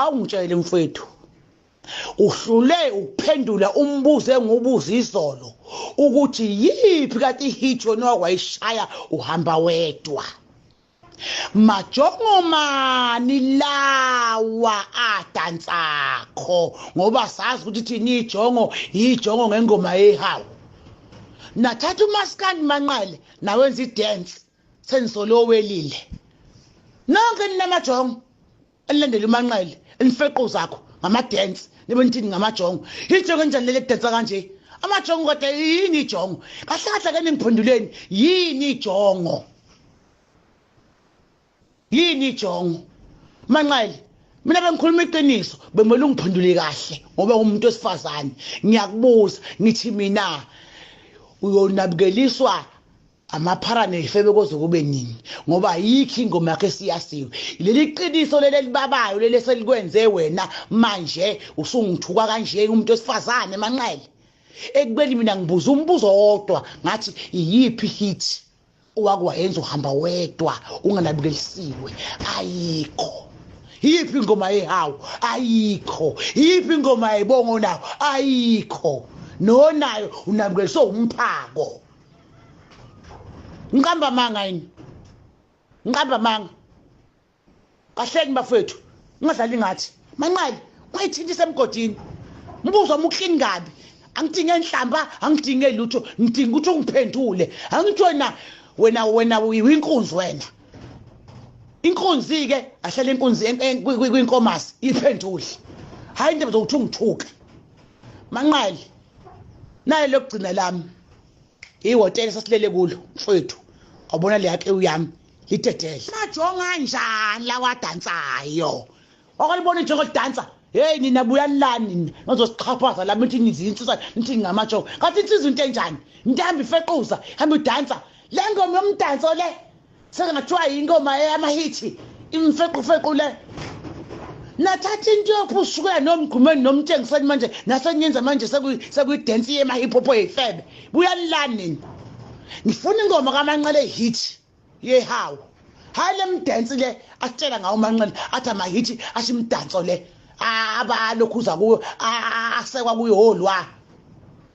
awungitshele mfwethu uhlule ukuphendula umbuzo engubuza izolo ukuthi yiphi kati hit yona wayishaya uhamba wedwa majongomani lawa adansakho ngoba sazi ukuthi thina ijongo yijongo ngengoma yehawu nathatha umaskandi manqele nawenza idance sengisole owelile nonke ninamajongo elilandela umanqele enifeqo zakho ngamadensi nibe nithini ngamajongo ijongo enjani leli kudensa kanje amajongo kodwa yini ijongo kahle kahle ke ningiphenduleni yini ijongo yini ijongo manqele mina bengikhuluma iqiniso bemele ungiphendule kahle ngoba ngumuntu wesifazane ngiyakubuza ngithi mina uyonabukeliswa Amaphara nezifebe koze kube nini ngoba ayikho ingoma yakhe esiyasiwe. Leli qiniso leli elibabayo leli eselikwenze wena manje usungithuka kanje umuntu wesifazane manqele. Ekubeni mina ngibuza umbuzo owodwa ngathi iyiphi hit owake wayenza uhamba wedwa unganabukelisiwe ayikho. Iyiphi ingoma yehawu ayikho. Iyiphi ingoma yebongo nawo ayikho. Nonayo unabukeliswe umphako. ngiqamba amanga yini ngiqamba amanga kahleki bafethu ungadlali ngathi manqali ungayithinti isemgodini umbuzo wami uklini kabi angidinge nhlamba angidinge lutho ngidinga ukuthi ungiphendule angithi wena wena wena uyinkunzi wena inkunzi-ke ahlale inkunzi kwinkomasi iphendule hhayi into zokuthi ungithuke manqali naye lokugcina lami ihhotela sasilele kulo mfowethu wabona le yakhe uyami lidedele majonga njani lawadansayo wakalibona ijongo lidansa heyi nina buyalani nina nozosiqhaphaza lami nithi nizinsisa nithi ngingamatsho kathi insizwa into enjani ntambi ifequza hambe udansa le ngoma yomdanso le Sengathiwa ingoma eyamahithi imfequfequ le. Nathatha into yokuphusukela nomgqumeni nomtshengiseni manje nasenyenza manje sekuyidance yema-hip hop eyifebe. Buyanilani nini? Ngifuna ingoma kamanqele hit yehawu. Hhayi le mdansi le asitshela ngawo umanqele athi amahithi asho imidanso le abalokhuza kuyo asekwa kuyo olwa.